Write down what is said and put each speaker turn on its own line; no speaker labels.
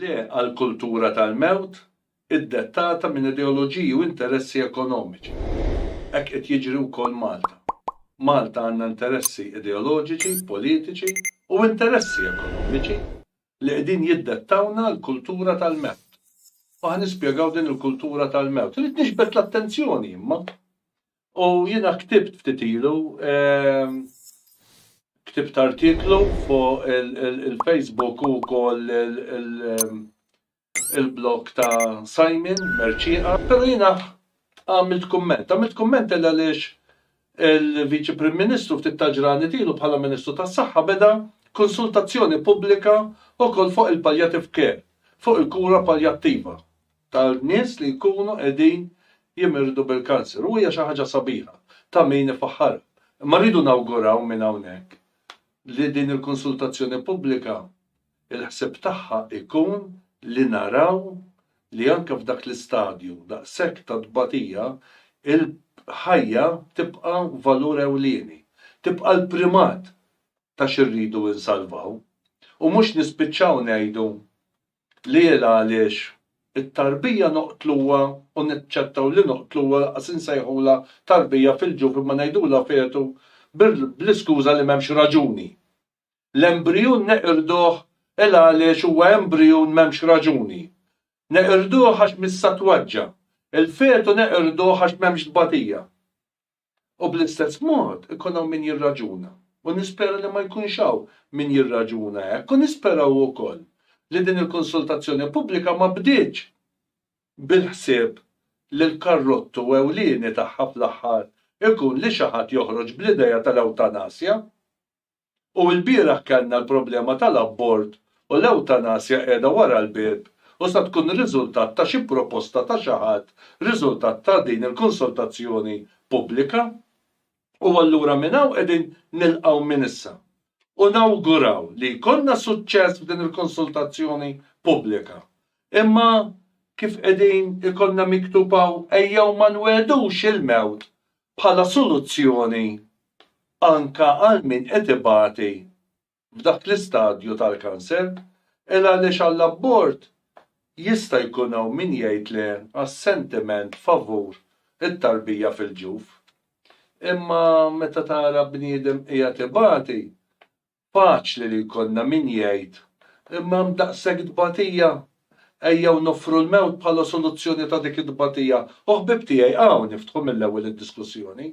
Le għal kultura tal-mewt iddettata minn ideoloġiji u interessi ekonomiċi. Hekk qed jiġri wkoll Malta. Malta għandna interessi ideoloġiċi, politiċi u interessi ekonomiċi li qegħdin jiddettawlna l-kultura tal-mewt. U ħa nispjegaw din il-kultura tal-mewt. Irrid niġbed l-attenzjoni imma U jiena ktibt ftit ilu, ktibt artiklu fuq il-Facebook u wkoll il-blog ta' Simon Mercieqa, però jiena għamilt kumment. Għamilt kumment għaliex għaliex il-Viċi Prim Ministru ftit tal-ġranet ilu bħala Ministru tas-Saħħa beda konsultazzjoni pubblika wkoll fuq il-palliative care, fuq il-kura paljattiva. ta' nies li jkunu qegħdin jimirdu bil-kanser u hija xi ħaġa sabiħa ta' min ifaħħarha. Imma rridu nawguraw minn hawnhekk li din il-konsultazzjoni pubblika il-ħsieb tagħha jkun li naraw li anke f'dak l-istadju daqshekk ta' tbatija il-ħajja tibqa' valur ewlieni, tibqa' l-primat ta' xi rridu insalvaw u mhux nispiċċaw ngħidu L-għela għaliex it-tarbija noqtluha u naċċettaw li noqtluha lanqas insejħulha tarbija fil-ġuf imma ngħidulha fetu bl-iskuża li m'hemmx raġuni. L-embrijun neqirduh għela għaliex huwa embrijun m'hemmx raġuni. Neqirduh għax missa twaġġa'. Il-fetu neqirduh għax m'hemmx tbatija. U bl-istess mod ikun hawn min jirraġuna, u nispera li ma jkunx hawn min jirraġuna hekk, u nispera wkoll li din il-konsultazzjoni pubblika ma bdietx bil-ħsieb li l-karrottu ewlieni tagħha fl-aħħar ikun li xi ħadd joħroġ bl-idea tal-ewtanasja. U ilbieraħ kellna l-problema tal-abort u l-ewtanasja qiegħda wara l-bieb u sa tkun riżultat ta' xi proposta ta' xi ħadd riżultat ta' din il-konsultazzjoni pubblika. U allura minn hawn qegħdin nilqgħu minn issa u nawguraw li jkollna suċċess f'din il-konsultazzjoni pubblika. Imma kif qegħdin ikollna miktub hawn ejjew ma nwegħdux il-mewt bħala soluzzjoni anke għal min qed ibati f'dak l-istadju tal-kanser, il għaliex għall-abort jista' jkun hawn min jgħid le għas-sentiment favur it-tarbija fil-ġuf. Imma meta tara bniedem qiegħed ibati, Faċli li jkollna min jgħid, Imma hemm daqshekk tbatija! Ejjew noffru l-mewt bħala soluzzjoni ta' dik it-tbatija, u ħbieb tiegħi hawn niftħu mill-ewwel id-diskussjoni.